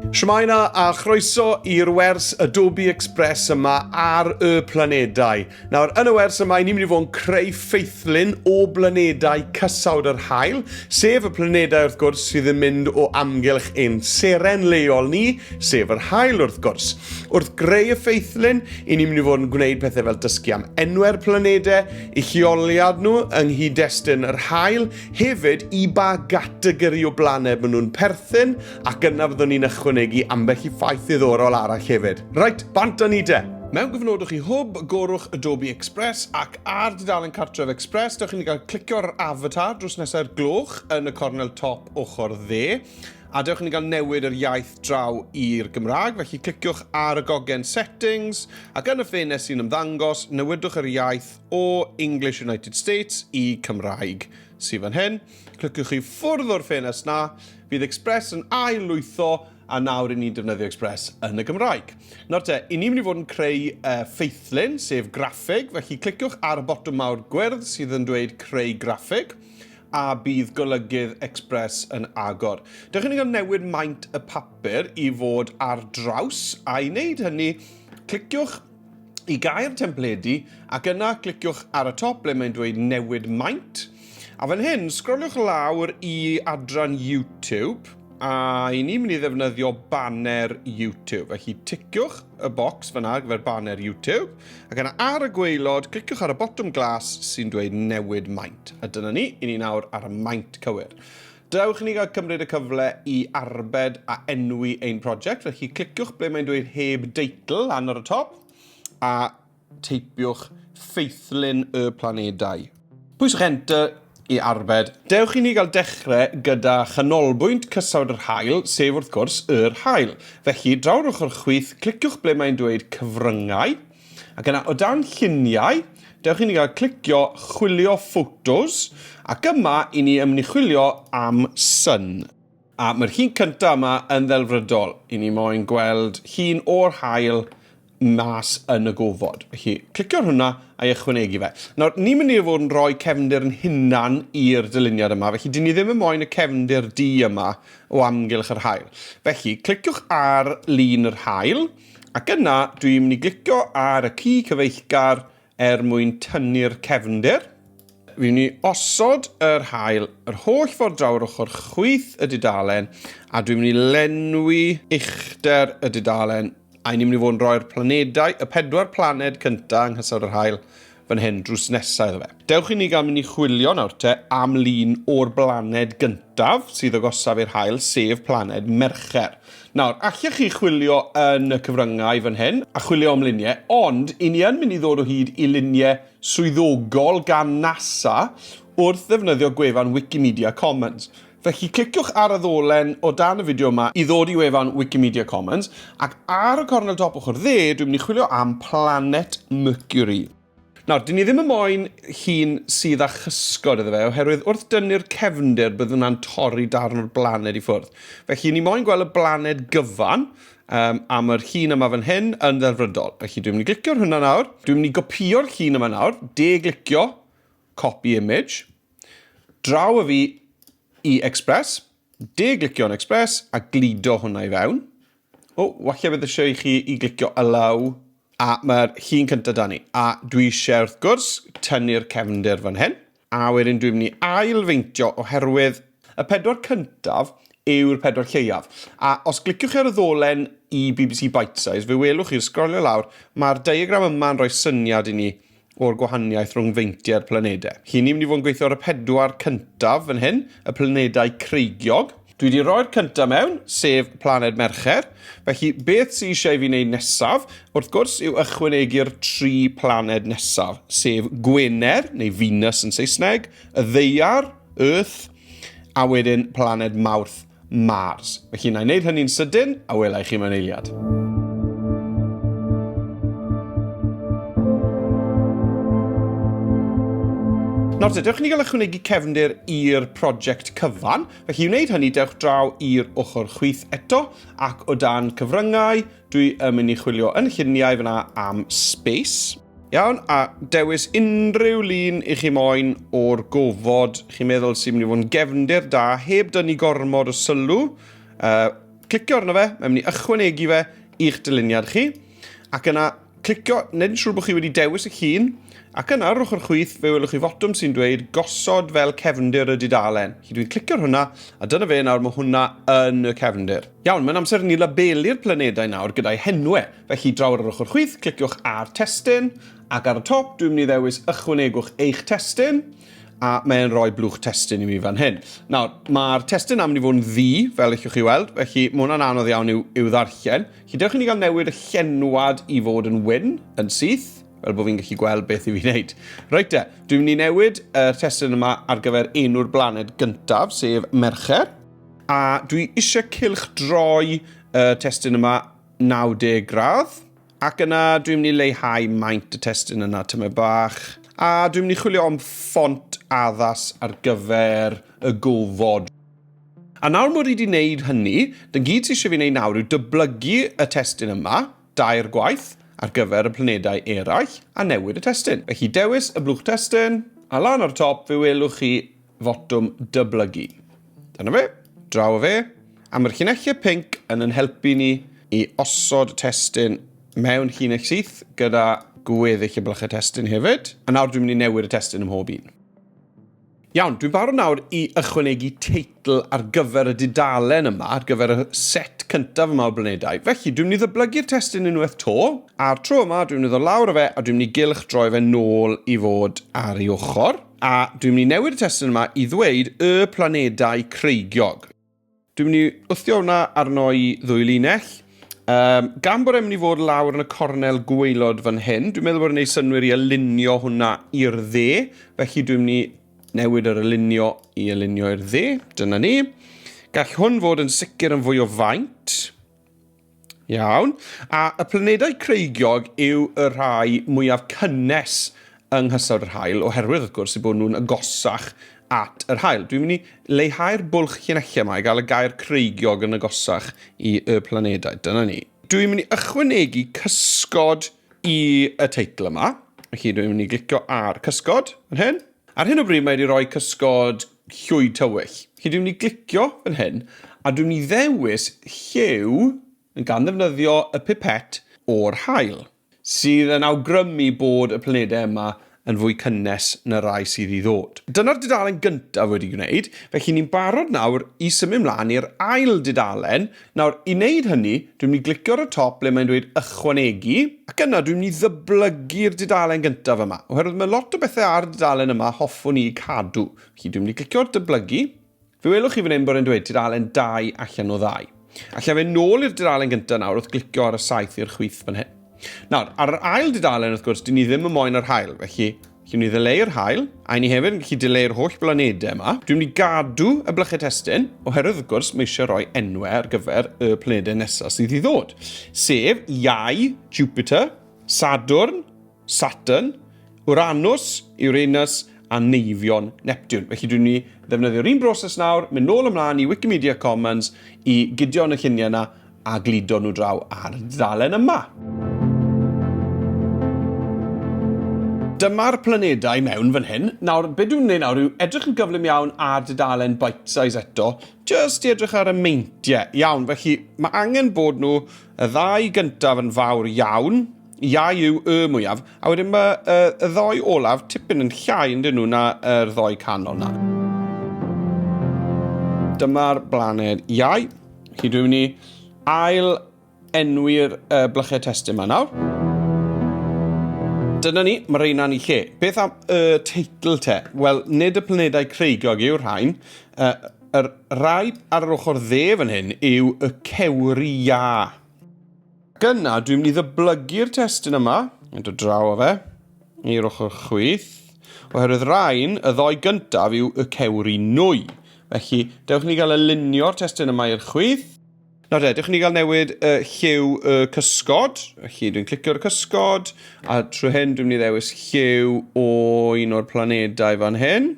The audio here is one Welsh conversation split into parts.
Shwmae na, a chroeso i'r wers Adobe Express yma ar y planedau. Nawr, yn y wers yma, ni'n mynd i fod yn creu ffeithlun o blanedau cysawd yr hael, sef y planedau wrth gwrs sydd yn mynd o amgylch ein seren leol ni, sef yr hael wrth gwrs. Wrth greu y ffeithlun, i ni'n mynd i fod yn gwneud pethau fel dysgu am enwau'r planedau, i lleoliad nhw yng nghyd-destun yr hael, Hefyd, i ba gategori o blaned maen nhw'n perthyn, ac yna fyddwn ni'n ychwanegu ambell i ffaith ddiddorol arall hefyd. Reit, bant â ni de! Mewn gofnodwch i Hwb, gorwch Adobe Express ac ar dudalen Cartref Express, dewch i ni gael clicio ar yr avatar drws nesau'r gloch yn y cornel top ochr dde, a dewch i ni gael newid yr iaith draw i'r Gymraeg, felly cliciwch ar y gogen Settings, ac yn y ffenest sy'n ymddangos, newidwch yr iaith, o English United States i Cymraeg sydd fan hyn. Cliciwch chi ffwrdd o'r ffenest na, fydd Express yn ail lwytho a nawr i ni'n defnyddio Express yn y Gymraeg. Nawr te, i ni'n mynd i fod yn creu uh, ffeithlun, sef graffeg, felly cliciwch ar y botwm mawr gwyrdd sydd yn dweud creu graffeg a bydd golygydd Express yn agor. Dych chi'n cael newid maint y papur i fod ar draws, a'i wneud hynny, cliciwch i gael templedi ac yna cliciwch ar y top ble mae'n dweud newid maint a fan hyn sgroliwch lawr i adran YouTube a i ni'n mynd i ddefnyddio banner YouTube felly ticiwch y bocs fyna ar gyfer banner YouTube ac yna ar y gweilod cliciwch ar y botwm glas sy'n dweud newid maint a dyna ni, i ni nawr ar y maint cywir. Dewch i ni gael cymryd y cyfle i arbed a enwi ein prosiect, felly cliciwch ble mae'n dweud heb deitl lan ar y top a teipiwch Ffeithlyn y Planedau. Pwyswch Enter i arbed. Dewch i ni gael dechrau gyda chanolbwynt cysawd yr haul, sef wrth gwrs yr haul. Felly, draw ar ochr chwith, cliciwch ble mae'n dweud Cyfryngau, Ac yna o dan lluniau, dewch i ni gael clicio chwilio photos, ac yma i ni ymnichwilio am sun. A mae'r llun cyntaf yma yn ddelfrydol, i ni moyn gweld llun o'r haul mas yn y gofod. Felly, clicio ar hwnna a'i ychwanegu fe. Nawr, ni'n mynd i fod yn rhoi cefndir yn hunan i'r dyluniad yma, felly dyn ni ddim yn moyn y cefndir du yma o amgylch yr haul. Felly, cliciwch ar lun yr haul, Ac yna, dwi'n mynd i glicio ar y ci cyfeillgar er mwyn tynnu'r cefndir. Fi'n mynd i osod yr haul yr holl ffordd draw yr ochr chwith y dudalen, a dwi'n mynd i lenwi uchder y dudalen, a ni'n mynd i fod yn rhoi'r planedau, y pedwar planed cyntaf yng nghysawd yr haul, fan hyn drws nesa iddo fe. Dewch i ni gael mynd i chwilio nawr te am lun o'r blaned gyntaf sydd agosaf i'r haul, sef planed Mercher. Nawr, allech chi chwilio yn y cyfryngau fan hyn a chwilio am luniau, ond i ni yn mynd i ddod o hyd i luniau swyddogol gan NASA wrth ddefnyddio gwefan Wikimedia Commons. Felly cliciwch ar y ddolen o dan y fideo yma i ddod i wefan Wikimedia Commons, ac ar y cornel dop ochr dde, dwi'n mynd i chwilio am planet Mercury. Nawr, dyn ni ddim yn moyn llun sydd â chysgod iddo fe, oherwydd wrth dynnu'r cefndir bydd hwnna'n torri darn o'r blaned i ffwrdd. Felly, ni moyn gweld y blaned gyfan um, am yr llun yma fan hyn yn ddelfrydol. Felly, dwi'n mynd i glicio ar hwnna nawr. Dwi'n mynd i gopio'r llun yma nawr, de-glicio, copy image. Draw â fi i Express, de-glicio yn Express a gludo hwnna i fewn. O, walle bydd eisiau i chi i glicio y law, a mae'r llun cyntaf da ni. A dwi eisiau, wrth gwrs, tynnu'r cefnder fan hyn, a wedyn dwi'n mynd i ailfeintio oherwydd y pedwar cyntaf yw'r pedwar lleiaf. A os gliciwch chi ar y ddolen i BBC Bitesize, fe welwch chi'n sgrolio lawr, mae'r diagram yma'n rhoi syniad i ni o'r gwahaniaeth rhwng feintiau'r planedau. Chi ni'n mynd i fod yn gweithio ar y pedwar cyntaf fan hyn, y planedau creigiog. Dwi wedi rhoi'r cyntaf mewn, sef planed Mercher. Felly, beth sy'n eisiau fi wneud nesaf, wrth gwrs, yw ychwanegu'r tri planed nesaf, sef Gwener, neu Venus yn Saesneg, y Ddeiar, Earth, a wedyn planed Mawrth. Mars. Felly na i wneud hynny'n sydyn, a wela i chi mewn eiliad. Nawr te, dewch ni gael ychwanegu cefndir i'r prosiect cyfan. Felly i wneud hynny, dewch draw i'r ochr chwith eto, ac o dan cyfryngau, dwi yn mynd i chwilio yn lluniau fyna am space. Iawn, a dewis unrhyw lun i chi moyn o'r gofod chi'n meddwl sy'n mynd i fod yn gefndir da, heb dynnu gormod o sylw. Uh, clicio arno fe, mae'n mynd i ychwanegu fe i'ch dyluniad chi. Ac yna, clicio, nid yn siŵr bod chi wedi dewis y llun, ac yna ar ochr chwyth fe welwch chi fotwm sy'n dweud gosod fel cefndir y dudalen. Chi dwi'n clicio'r hwnna, a dyna fe nawr mae hwnna yn y cefndir. Iawn, mae'n amser ni labelu'r planedau nawr gyda'i henwe. Felly, draw ar yr ochr chwith, cliciwch ar Testun, ac ar y top, dwi'n mynd i ddewis Ychwanegwch eich testun, a mae'n rhoi blwch testun i mi fan hyn. Nawr, mae'r testun am ni fod yn ddu, fel ych chi weld, felly mae hwnna'n anodd iawn i'w, i'w ddarllen. Felly, dewch i ni gael newid y llenwad i fod yn wyn, yn syth, fel bod fi'n gallu gweld beth i fi wneud. Reit de, dwi'n mynd i newid y testun yma ar gyfer enw'r blaned gyntaf, sef Mercher. A dwi eisiau cylch droi y testun yma 90 gradd, ac yna dwi'n mynd i leihau maint y testun yna tymed bach, a dwi'n mynd i chwilio am ffont addas ar gyfer y gofod. A nawr mod i wedi wneud hynny, dy'n gyd sydd eisiau fi wneud nawr yw dyblygu y testun yma, dair gwaith, ar gyfer y planedau eraill, a newid y testun. Felly dewis y blwch testun, a lan ar y top fe welwch chi fotwm dyblygu. Dyna fe, draw o fe. A mae'r llinellau pink yn yn helpu ni i osod testun mewn llinell syth gyda gweddill y blychau testun hefyd. A nawr dwi'n mynd i newid y testun ym mhob un. Iawn, dwi'n barod nawr i ychwanegu teitl ar gyfer y dudalen yma, ar gyfer y set cyntaf yma o blanedau. Felly, dwi'n mynd i ddyblygu'r testun unwaith to, a'r tro yma dwi'n mynd i ddod lawr o fe a dwi'n mynd i gylch droi fe nôl i fod ar ei ochr. A dwi'n mynd i newid y testun yma i ddweud y planedau creigiog. Dwi'n mynd i wthio hwnna arno i ddwy linell. Um, gan bod e'n mynd i fod lawr yn y cornel gweilod fan hyn, dwi'n meddwl bod yn ei synwyr i alinio hwnna i'r dde, felly dwi'n mynd i newid yr alinio i alinio i'r dde, dyna ni. Gall hwn fod yn sicr yn fwy o faint. Iawn. A y planedau creigiog yw y rhai mwyaf cynnes yng nghysawd yr haul, oherwydd, wrth gwrs, eu bod nhw'n agosach at yr haul. Dwi'n mynd i leihau'r bwlch llinellau yma i gael y gair creigiog yn agosach i y planedau. Dyna ni. Dwi'n mynd i ychwanegu cysgod i y teitl yma. Felly dwi'n mynd i glicio ar cysgod yn hyn. Ar hyn o bryd mae wedi rhoi cysgod llwyd tywyll. Chi dwi'n mynd i glicio fan hyn a dwi'n mynd i ddewis lliw gan ddefnyddio y pipet o'r haul sydd yn awgrymu bod y planedau yma yn fwy cynnes na rai sydd i ddod. Dyna'r dudalen gyntaf wedi gwneud, felly ni'n barod nawr i symud mlaen i'r ail dudalen Nawr, i wneud hynny, dwi'n mynd i glicio ar y top ble mae'n dweud Ychwanegu, ac yna dwi'n mynd i ddyblygu'r dudalen gyntaf yma, oherwydd mae lot o bethau ar y dudalen yma a hoffwn i eu cadw. Felly, dwi'n mynd i glicio ar Dyblygu. Fe welwch chi fan hyn bod e'n dweud tudalen 2 allan o ddau. Alla i fynd nôl i'r dudalen gyntaf nawr wrth glicio ar y saeth i'r chwith fan hyn. Nawr, ar yr ail dudalen, wrth gwrs, dyn ni ddim yn moyn yr haul, felly Lle ni ddileu'r haul, a ni hefyd yn gallu dileu'r holl blanedau yma. Dwi'n mynd i gadw y blychau testyn, oherwydd wrth gwrs mae eisiau rhoi enwau ar gyfer y planedau nesaf sydd i ddod. Sef Iau, Jupiter, Sadwrn, Saturn, Uranus, Uranus a Neifion, Neptune. Felly dwi'n mynd i ddefnyddio'r un broses nawr, mynd nôl ymlaen i Wikimedia Commons i gydio yn y lluniau yna a gludo nhw draw ar ddalen yma. Dyma'r planedau mewn fan hyn. Nawr, be dwi'n gwneud nawr yw edrych yn gyflym iawn ar dudalen bite size eto, just i edrych ar y meintiau. Iawn, felly mae angen bod nhw y ddau gyntaf yn fawr iawn, Iau yw y mwyaf, a wedyn mae uh, y ddoi olaf tipyn yn llai yn dyn nhw na yr uh, ddoi canol na. Dyma'r blaned iau. Chi dwi'n mynd i ail enwi'r uh, blychau testyn yma nawr. Dyna ni, mae reina'n i lle. Beth am y uh, teitl te? Wel, nid y planedau creigiog yw'r rhain. Uh, yr rai ar yr ochr dde fan hyn yw y cewri iau. Gyna, dwi'n mynd i ddyblygu'r testyn yma, yn dod draw o fe, i'r ochr chwith, oherwydd rhain, y ddoi gyntaf yw y cewri nwy. Felly, dewch ni gael y lunio'r testyn yma i'r chwith. Nawr de, dewch ni gael newid y lliw y cysgod. Felly, dwi'n clicio'r cysgod, a trwy hyn dwi'n mynd i ddewis lliw o un o'r planedau fan hyn.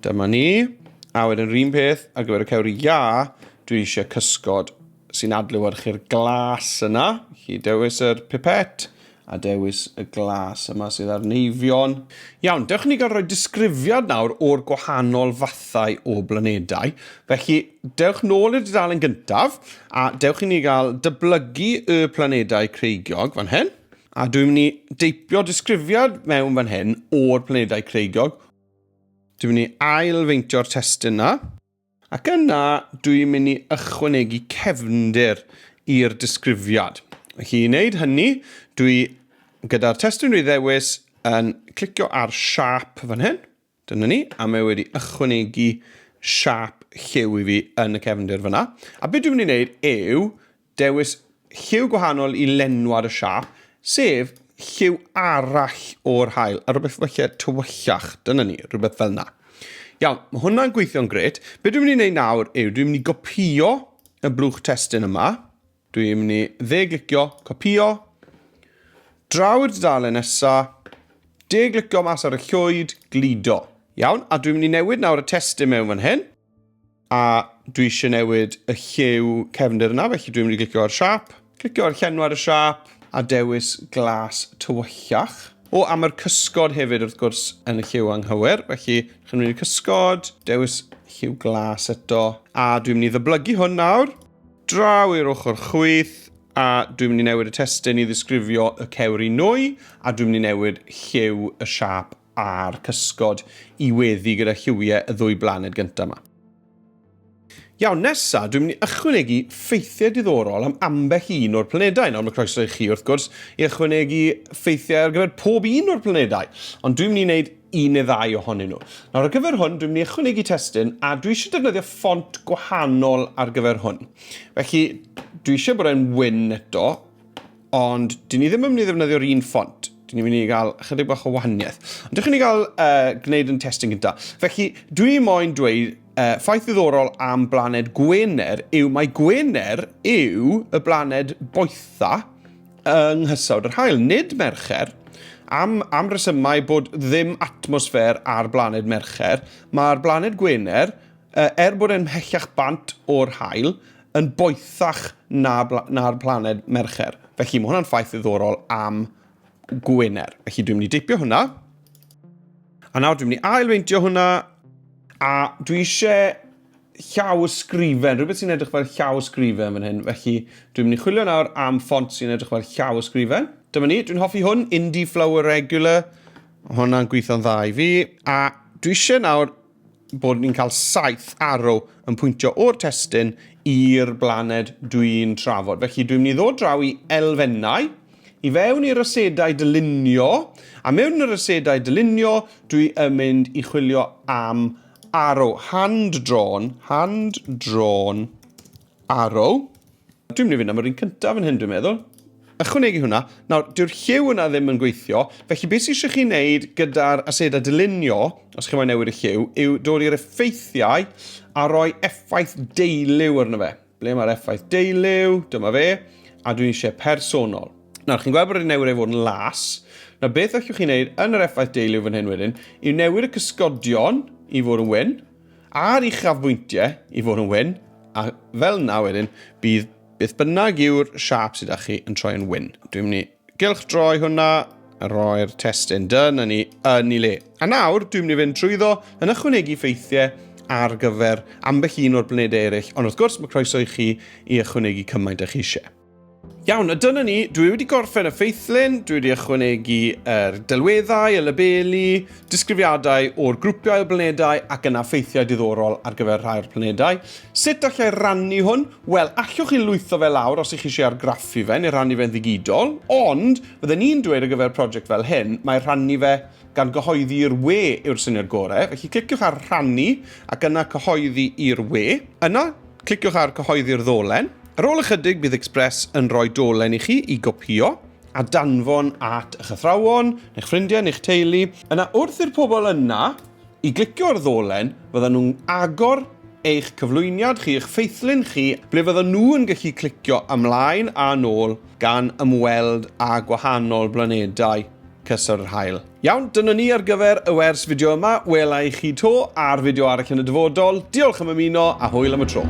Dyma ni. A wedyn rhywun peth ar gyfer y cewr ia, dwi eisiau cysgod sy'n adlewyrchu'r glas yna. Chi dewis yr pipet a dewis y glas yma sydd ar neifion. Iawn, dewch i ni gael rhoi disgrifiad nawr o'r gwahanol fathau o blanedau. Felly, dewch nôl i'r dudalen gyntaf a dewch i ni gael dyblygu y planedau creigiog fan hyn. A dwi'n mynd i deipio disgrifiad mewn fan hyn o'r planedau creigiog. Dwi'n mynd i ail-feintio'r testun 'na. Ac yna, dwi'n mynd i ychwanegu cefndir i'r disgrifiad. Felly i wneud hynny, dwi gyda'r testun rhy ddewis yn clicio ar siap fan hyn. Dyna ni, a mae wedi ychwanegu siap lliw i fi yn y cefndir fyna. A beth dwi'n mynd i wneud yw, Dewis lliw gwahanol i lenwad y siâp, sef lliw arall o'r haul, a rhywbeth falle tywyllach, dyna ni, rhywbeth fel yna. Iawn, mae hwnna'n gweithio'n gret. Be dwi'n mynd i wneud nawr yw, dwi'n mynd i gopio y blwch testyn yma. Dwi'n mynd i dde-glicio, copio, draw i'r dudalen nesaf, de-glicio mas ar y llwyd, gludo. Iawn, a dwi'n mynd i newid nawr y testyn mewn fan hyn. A dwi eisiau newid y lliw cefndir yna, felly dwi'n mynd i glicio ar siap, clicio ar llenw ar y siap, a dewis glas tywyllach. O, a mae'r cysgod hefyd wrth gwrs yn y lliw anghywir, felly chi'n mynd i'r cysgod, dewis lliw glas eto, a dwi'n mynd i ddyblygu hwn nawr, draw i'r ochr chwyth, a dwi'n mynd i newid y testyn i ddisgrifio y cewr i nwy, a dwi'n mynd i newid lliw y siap a'r cysgod i weddu gyda lliwie y ddwy blaned gynta 'ma. Iawn, nesa, dwi'n mynd i ychwanegu ffeithiau diddorol am ambell un o'r planedau. Nawr, mae croeso i chi, wrth gwrs, i ychwanegu ffeithiau ar gyfer pob un o'r planedau, ond dwi'n mynd i wneud un neu ddau ohonyn nhw. Nawr, ar gyfer hwn, dwi'n mynd i ychwanegu testun, a dwi eisiau defnyddio ffont gwahanol ar gyfer hwn. Felly, dwi eisiau bod e'n wyn eto, Ond, dyn ni ddim yn mynd i ddefnyddio'r un ffont. Dyn ni'n mynd i gael chydig bach o wahaniaeth. Ond dych chi'n ei gael uh, gwneud yn testyn gyda. Felly, dwi moyn dweud uh, ffaith ddiddorol am blaned Gwener yw mae Gwener yw y blaned boetha yng nghysawd yr hael, nid Mercher. Am, am resymau bod ddim atmosffer ar blaned Mercher, mae'r blaned Gwener Er bod e'n mhellach bant o'r haul, yn boethach na na'r planed Mercher. Felly mae hwnna'n ffaith ddiddorol am Gwener. Felly dwi'n mynd i deipio hwnna. A nawr dwi'n mynd i ailfeintio hwnna. A dwi eisiau llaw ysgrifen, rhywbeth sy'n edrych fel llaw ysgrifen fan hyn. Felly dwi'n mynd i chwilio nawr am ffont sy'n edrych fel llaw ysgrifen. Dyma ni, dwi'n hoffi hwn, Indie Flower Regular. Hwna'n gweithio'n dda i fi. A dwi eisiau nawr bod ni'n cael saith arrow yn pwyntio o'r testyn i'r blaned dwi'n trafod. Felly dwi'n mynd i ddod draw i elfennau, i fewn i'r ysedau dylunio, a mewn i'r ysedau dylunio dwi yn mynd i chwilio am arrow, hand-drawn, hand-drawn arrow. Dwi'n mynd i fynd am yr un cyntaf yn hyn, dwi'n meddwl. Ychwanegu hwnna, nawr, dyw'r lliw yna ddim yn gweithio, felly beth sy'n eisiau chi wneud gyda'r aseda dylunio, os chi'n mynd newid y lliw, yw dod i'r effeithiau a roi effaith deiliw arno fe. Ble mae'r effaith deiliw? Dyma fe. A dwi'n eisiau personol. Nawr, chi'n gweld bod wedi newid ei fod yn las. Nawr, beth allwch chi'n neud yn yr effaith deiliw fan hyn wedyn, yw newid y cysgodion i fod yn wyn, A'r uchafbwyntiau i fod yn wyn, a fel yna wedyn, bydd beth bynnag yw'r siap sydd â chi yn troi yn wyn. Dwi'n mynd i gylch droi hwnna, a roi'r testyn dyn yn ei yn ei le. A nawr, dwi'n mynd i fynd trwyddo yn ychwanegu ffeithiau ar gyfer ambell un o'r planedau eraill, ond wrth gwrs mae croeso i chi i ychwanegu cymaint â chi eisiau. Iawn, a dyna ni. Dwi wedi gorffen y ffeithlun, dwi wedi ychwanegu yr delweddau, y labelu, disgrifiadau o'r grwpiau o blanedau ac yna ffeithiau diddorol ar gyfer rhai o'r planedau. Sut allai rannu hwn? Wel, allwch chi lwytho fe lawr os ych chi eisiau argraffu fe neu rannu fe'n ddigidol, ond fydden ni'n dweud ar gyfer prosiect fel hyn, mae rhannu fe gan gyhoeddi i'r we yw'r syniad gorau, felly cliciwch ar rhannu ac yna cyhoeddi i'r we. Yna, Cliciwch ar Cyhoeddi'r ddolen. Ar ôl ychydig bydd Express yn rhoi dolen i chi i gopïo a danfon at eich athrawon, neu'ch ffrindiau, neu'ch teulu. Yna wrth i'r pobl yna i glicio ar y ddolen, fyddan nhw'n agor eich cyflwyniad chi, eich ffeithlun chi, ble fyddan nhw yn gallu clicio ymlaen a nôl gan ymweld â gwahanol blanedau. cysur yr haul. Iawn, dyna ni ar gyfer y wers fideo yma. Wela i chi to ar fideo arall yn y dyfodol. Diolch am ymuno a hwyl am y tro.